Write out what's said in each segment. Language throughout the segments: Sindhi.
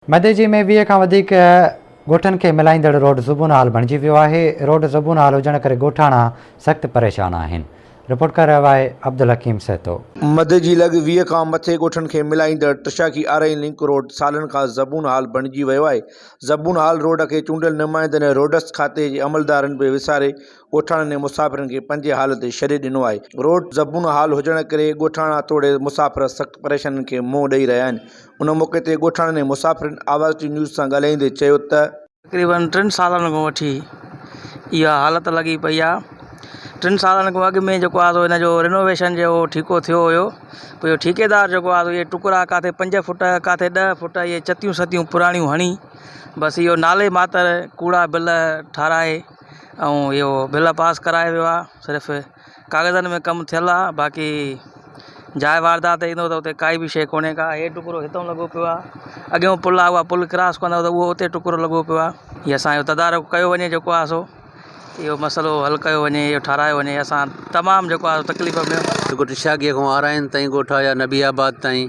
مدي جي ۾ ويهه کان وڌيڪ ڳوٺن کي ملائيندڙ روڊ زبون حال بڻجي ويو آهي، روڊ زبون حال هجڻ ڪري ڳوٺاڻا سخت پريشان آهن، رپورٽ ڪري رهيو آهي عبدالحڪيم سهتو. مدي جي لڳ ويهه کان مٿي ڳوٺن کي ملائيندڙ تشاڪي آرئين لنڪ روڊ سالن کان زبون حال بڻجي ويو آهي، زبون حال روڊ کي چونڊيل نمائندن ۽ روڊس کاتي جي عملدارن به وساري ڳوٺاڻن ۽ مسافرن کي پنهنجي حال تي ڇڏي ڏنو آهي. روڊ زبون حال هجڻ ڪري ڳوٺاڻا توڙي مسافر سخت پريشانين کي منهن ڏئي رهيا آهن. ان موقعي تي ڳوٺاڻن ۽ مسافرن آواز ٽي نيوز سان ڳالهائيندي چيو ته. تقريبن ٽن سالن کان وٺي اها حالت لڳي پئي آهي. ٽن سالن کان اڳ ۾ جيڪو آهي سو ان جو رينوويشن جي اهو ٺيڪو ٿيو هيو. پوء اهو ٺيڪيدار جيڪو آهي سو اهي ٽڪرا ڪاٿي پنج فوٽ ڪاٿي ڏهه فوٽ اهي چتيون ستيون پراڻيون هڻي بس اهو نالي ماتر ڪوڙا بل ٺاهرائي. ۽ اهو بل پاس ڪرايو ويو آهي صرف ڪاغذن ۾ ڪم ٿيل آهي باقي جاء واردات تي ڏسندو ته ڪائي به شيء ڪونهي ڪا هي ٽڪرو هتو لڳو پيو آهي اڳيون پل آهي اها پل ڪراس ڪندا ته اهو اتي ٽڪرو لڳو پيو آهي هي اسانجو تدارڪ ڪيو وڃي جيڪو آهي سو اهو مسئلو حل ڪيو وڃي اهو ٺاهرايو وڃي اسان تمام جيڪو آهي تڪليف ۾ ڳوٺ شاگيء کان آرائين تائين ڳوٺ آيا نبي آباد تائين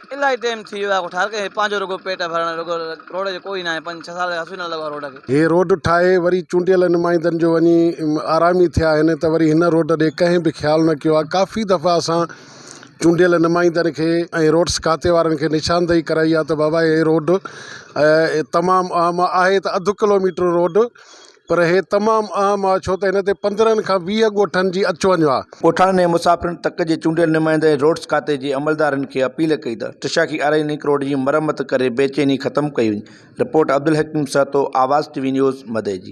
الاهي ٽيم ٿي ويو آهي هر ڪنهن پنهنجو رڳو پيٽ ڀرڻ رڳو روڊ جو ڪوئي ناهي پنج ڇهه سال هسي نه لڳو آهي روڊ کي. هي روڊ ٺاهي وري چونڊيل نمائندن جو وڃي آرامي ٿيا آهن ته وري هن روڊ ڏي ڪنهن به خيال نه ڪيو آهي ڪافي دفعا اسان چونڊيل نمائندن کي ۽ روڊس کاتي وارن کي نشاندهي ڪرائي آهي ته بابا هي روڊ تمام اهم آهي ته اڌ ڪلوميٽر روڊ پر هي تمام اهم آهي ڇو ته هن تي پندرهن کان ويهه ڳوٺن جي اچ وڃ آهي. ڳوٺاڻن ۽ مسافرن تڪ جي چونڊيل نمائنده ۽ روڊز کاتي جي عملدارن کي اپيل ڪئي ته ٽشاخي آرائي لنڪ روڊ جي مرمت ڪري بيچيني ختم ڪئي وڃي. Report Abdul Hakeem Sahto, Awaz T V news, Madeji.